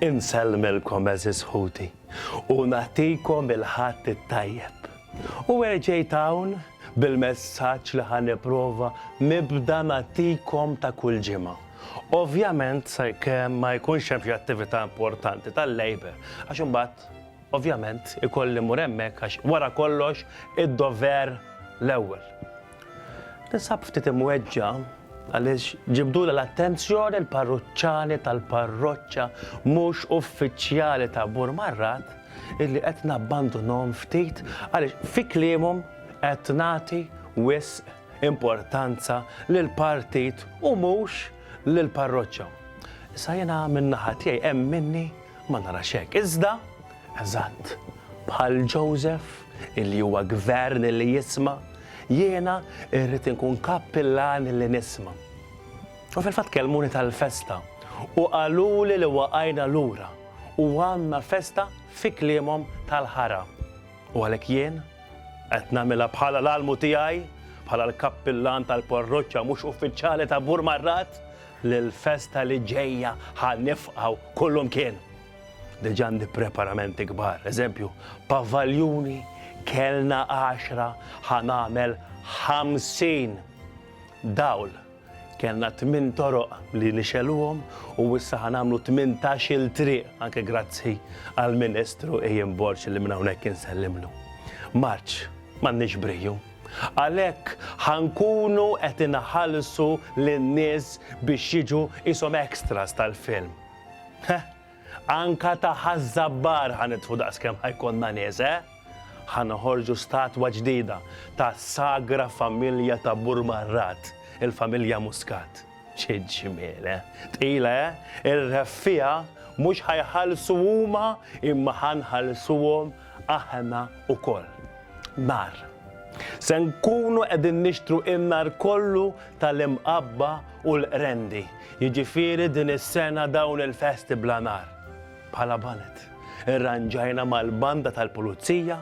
Insellmilkom għeżież ħuti u nagħtikom il-Ħadd it-Tajjeb. U erġejt hawn bil-messaġġ li ħa nipprova nibda nagħtikom ta' kull ġimgħa. Ovvjament sakemm ma jkunx hemm xi attività importanti tal-Labour għax imbagħad ovvjament ikolli mmur hemmhekk għax wara kollox id-dover l-ewwel. Tinsab ftit imweġġa' għaliex ġibdulha l-attenzjoni l-parruċċani tal-parroċċa mhux uffiċjali ta' Burmarrat illi qed nabbandunhom ftit għaliex fi kliemhom qed nagħti wisq importanza lill-partit u mhux lill-parroċċa. Issa jiena min-naħa tiegħi hemm minni ma narax hekk. Iżda Eżatt, bħal Joseph, li huwa gvern li jisma', jiena irrid inkun kappillan li nisma'. U fil-fatt kellmuni tal-festa u qaluli li waqajna lura u għandna festa fi kliemhom tal-ħara. U għalhekk jien qed nagħmilha bħala l-almu tiegħi bħala l-kappillan tal-parroċċa mhux uffiċjali ta' Burmarrat li l-festa li ġejja ħa nifqgħu kullumkien. Diġà għandi preparamenti kbar, eżempju, pavaljuni, kelna għaxra, ħa nagħmel ħamsin. Dawl, kellna tmien toroq li nixeluhom u issa ħa nagħmlu tmintax-il triq, anke grazzi għall-Ministru Ian Borg li minn hawnhekk insellimlu. Marċ, m'għandniex briju. Għalhekk ħa nkunu qed inħallsu lin-nies biex jiġu qishom extras tal-film. Heh! Anka ta' Ħaż-Żabbar ħa nitfu daqskemm ħa jkollna nies, eh? Ħa noħorġu statwa ġdida ta' sagra familja ta' Burmarrat, il-familja Muscat. Xi ġmiel, eh? Tqila, eh? Ir-reffiegħa mhux ħa jħallsu huma imma ħa nħallsuhom Aħna wkoll. Nar. Se nkunu qegħdin nixtru in-nar kollu tal-imqabba u l-qrendi. Jiġifieri din is-sena dawn il-festi bla nar. Bħala ballet, irranġajna mal-banda tal-Pulizija,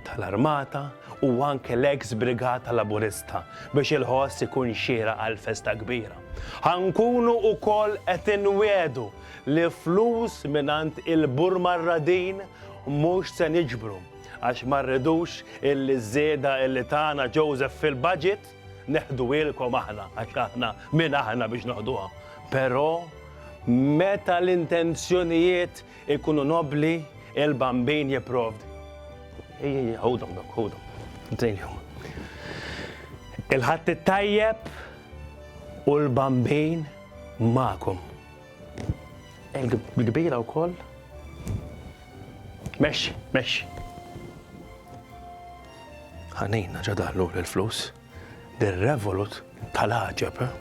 tal-Armata u anke l-eks Brigata Laburista biex il-ħoss ikun xieraq għall-festa kbira. Ħa nkunu wkoll qed inwiegħdu li flus mingħand il-Burmarradin mhux se niġbru għax ma rridux illi ż-żieda illi tana Joseph fil-budget neħduhielkom aħna għax aħna min aħna biex noħduha. Però meta l-intenzjonijiet ikunu nobbli il-Bambin jipprovdi. Ejja ejja ħudhom dawk ħudhom. Nsejħilhom. Il-Ħadd it-Tajjeb u l-Bambin magħkom. Il-kbira wkoll. Mexxi, mexxi. Ħanina ġa daħlu l-flus. Dir revolut tal-ħaġeb. Eh?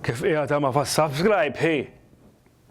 Kif qiegħda ma fas subscribe hi.